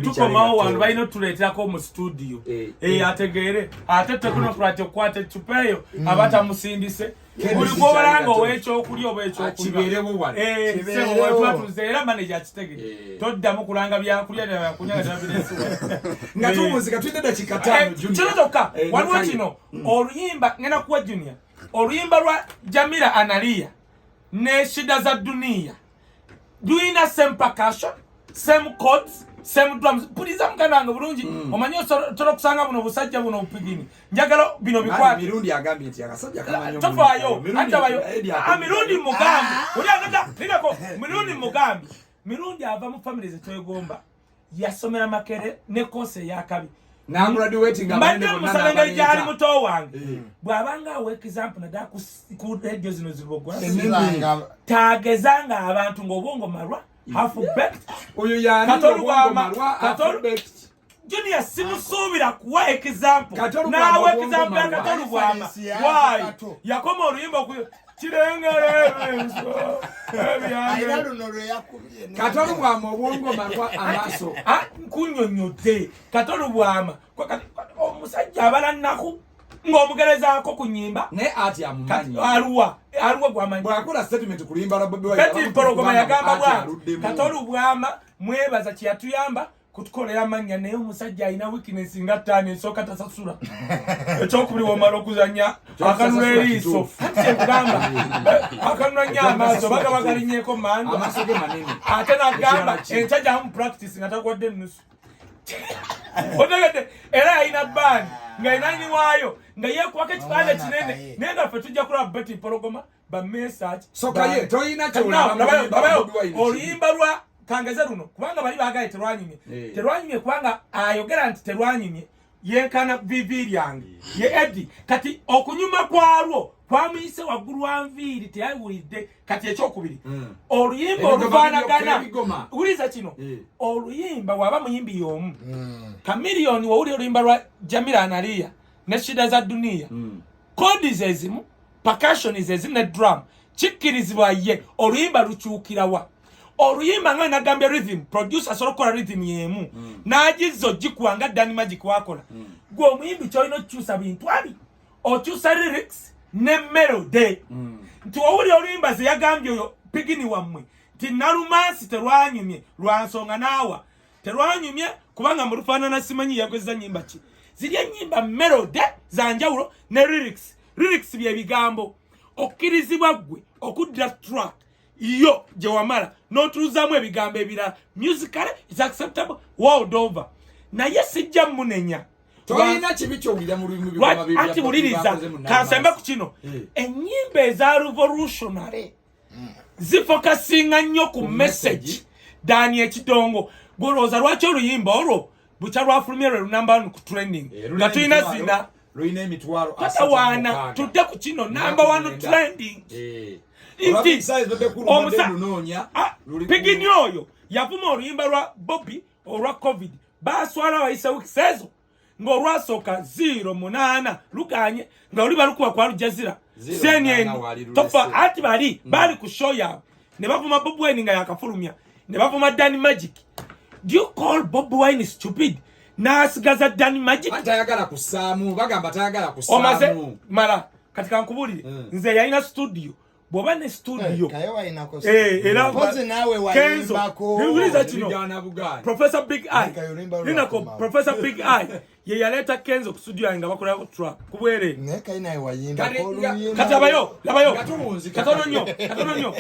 tukomawo wano balina otuleeterako mu situdiyo eh, eh, eh. ategeere ate tekunokrat okukwata ecupa eyo mm. aba tamusindise buli gwobalanga owekyokulya oba ekyokulyatwatuze era maneja akitegere toddamu kulanga byakulya nga tuwunzika tulina dakika tano kino kyokka waliwo kino mm. oluyimba ngenda kuwa junior oluyimba lwa jamira analiya ne shida za duniya duyina same percussion same chords same drums puliza muganda wange bulungi mm. omanyi osobola okusanga buno obusajja buno obupigini njagala bino bikwattofayo atabayo mirundi mugambi oli agenda ninako mirundi mugambi mirundi ava mu famire zetwegomba yasomera makere ne kosi eyakabi mbadde musaba engeri gyali muto wange eh. bw'abanga awa example naddala ku radio zino zibogwa tageza nga abantu ng'obwongo malwa junior simusuubira kuwa example n'awa example ya katolubwama waayi yakoma oluyimba katolo bwama obwongo malwa amaso ah, nkunyonyodde katolo bwama omusajja abala nnaku ng'omugerezaako ku nyimba naye ati amumanyi aluwa aluwa gwamanyi bwakula statement kulimba la bobi wine kati mpologoma yagamba bwati katolu bwama mwebaza kiyatuyamba kutukolera mannya naye omusajja alina weakness nga ttaano esooka tasasula ekyokubiri womala okuzanya akanula eriiso kugamba akanula nyo amaaso baga bagalinyeko mando ate nagamba enkya gyamu practice nga tagwadde ennusu otegedde era yalina baani nga inani waayo nga yekuwako ekipande kinene naye nga ffe tujja kulaba beti mpologoma oluyimba lwa kangeze luno kubanga bali bagaye terwanyumye eh. terwanyumye kubanga ayogera nti terwanyumye yenkana vivi lyange ye edi kati okunyuma kwalwo kwamuyise waggulu wa nviiri teyawulidde kati ekyokubiri hmm. oluyimba olufaanagana wuliza kino eh. oluyimba waba muyimbi y'omu hmm. kamiliyoni wowuli oluyimba lwa jamira analiya ne shida za duniya hmm. kodi zezimu percussion is ezina drum kikkirizibwa ye oluyimba lukyukirawa oluyimba nga nagambye rhythm producer asobola okukola rhythm yemu mm. nagizza ogikuwa nga dan magic wakola mm. gwe omuyimbi kyolina okukyusa bintu abi okyusa lyrics ne melody mm. nti owuli oluyimba zeyagambye oyo pigini wammwe nti nalumansi terwanyumye lwansonga naawa terwanyumye kubanga mu lufaanana simanyi yakozesa nnyimba ki ziri ennyimba melode za njawulo ne lyrics lyrics bye bigambo okkirizibwa ggwe okuddira track yo gye wamala n'otuuzaamu ebigambo ebirala musical is acceptable world over naye sijja munenya tolina kibi kyowulira mu lulimu anti wuliriza kansembe ku kino eh. ennyimba eza revolutionary mm. zifokasinga nnyo ku message dani ekidongo gwolowooza lwaki oluyimba olwo bukya lwafulumye lwe lunamba one ku training eh, nga tulina zina tatawaana tudde ku kino namba one trending eh. nti pigini oyo yavuma oluyimba lwa bobi olwa covid baswala abayise wikisi ezo ng'olwasooka ziiro munaana luganye nga luli balukuba kwa lujazira senyen tofa ati bali mm. bali ku show yaabwe ne bavuma bob wine nga yakafulumya ne bavuma dani magic do you call bob wine stupid n'asigaza dani magic atayagala kusaamu bagamba tayagala kusaamu omaze mala kati kankubulire mm. nze yalina studio bw'oba ne studio eh, eh, era kenzo niwuliza kino professor big eye ninako professor big eye ye yaleeta kenzo ku studio yange nga bakolako trap ku bwere kati abayo labayo katono nnyo katono nnyo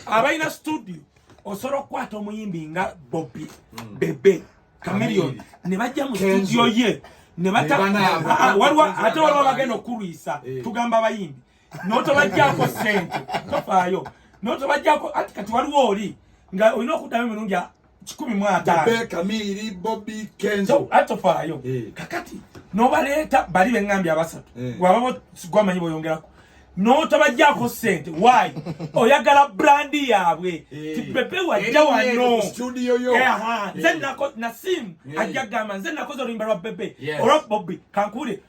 abalina studio osobola okukwata omuyimbi nga bobi hmm. bebe kamilion ne bajja mu studio ye ne bata ah, ah, waliwo ate waliwo bagenda okulwisa eh. tugamba abayimbi notobajjako sente tofaayo notobajjako ati kati waliwo oli nga olina okuddamu emirundi kikumi mu ataanokamiri bobi kenzo atofaayo eh. kakati nobaleeta bali beŋambi abasatu eh. wababo gwamanyi boyongerako notabajjako sente wy oyagala brandi yaabwe eh. tipepe wajja wano nze nasimu ajja gamba nze nakoze oluyimba lwa pepe olwa bobi kankule